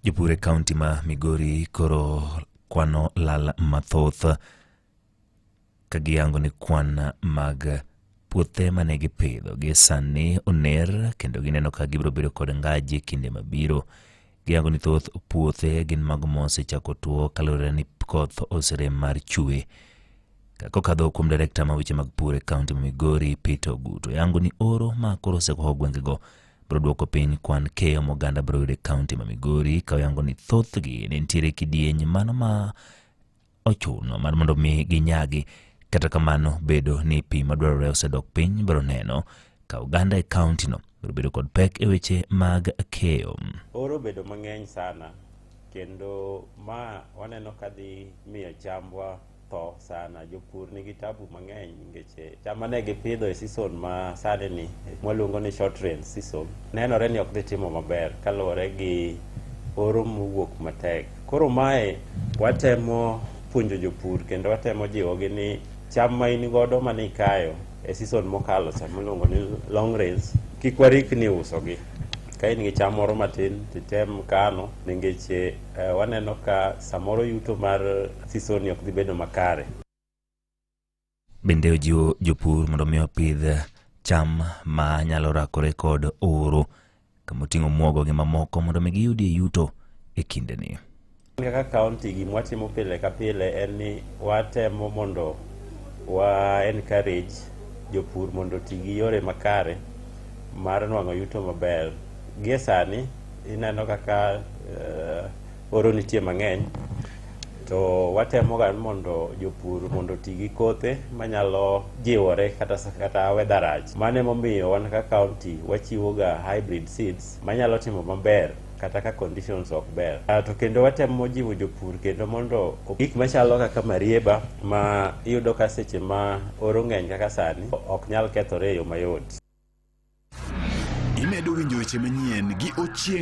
Jopur e kaunti ma Migori koro kwano lal mathoth ka giyango ni kwan mag puothe mane gipidho gi sani oner kendo gineno ka gibiro bedo kod ngaji kinde mabiro. Giyango ni thoth puothe gin mago mosechako tuo kaluwore ni koth oserem mar chwe. Kokadho kuom direkta ma weche mag pur e kaunti ma Migori Peter Ogutu yango ni oro ma koro osekoho gwengego biro dwoko piny kwan keyo moganda biro yudo e kaunti ma Migori ka oyango ni thothgi ne nitiere kidieny mano ma ochuno mar mondo mi ginyagi. Kata kamano, bedo ni pi madwarore osedok piny biro neno ka oganda e kauntino biro bedo kod pek e weche mag keyo. Oro bedo mang'eny sana kendo ma waneno kadhi miyo chambwa tho sana jopur nigi tabu mang'eny nikech eh, cham mane gipidho e season ma sani ni mwaluongo ni short rain season nenore ni ok dhi timo maber kaluwore gi oro mowuok matek koro mae watemo puonjo jopur kendo watemo jiwogi ni cham ma in godo ma nikayo e season mokalo cham miluongo ni long rains kik warikni usogi ka in gi cham moro matin titem kano nikech eh, Eh, waneno ka samoro yuto mar sisoni ok dhi bedo makare. Bende ojiwo jopur mondo mi opidh cham ma nyalo rakore kod oro kama oting'o muogo gi mamoko mondo mi giyudie yuto e kindeni. Kaka kaunti gima watimo pile ka pile en ni watemo mondo wa encourage jopur mondo oti gi yore makare mar nwang'o yuto maber. Gie sani Ineno kaka uh, oro nitie mang'eny to watemoga mondo jopur mondo oti gi kothe manyalo jiwore kata, kata weather rach. Mano emomiyo wan ka county wachiwoga hybrid seeds manyalo timo maber kata ka conditions ok ber. Uh, to kendo watemo jiwo jopur kendo mondo gik machalo kaka marieba ma iyudo ka seche ma oro ng'eny kaka sani ok nyal kethore e yo mayot. Imedo winjo weche manyien gi Ochieng'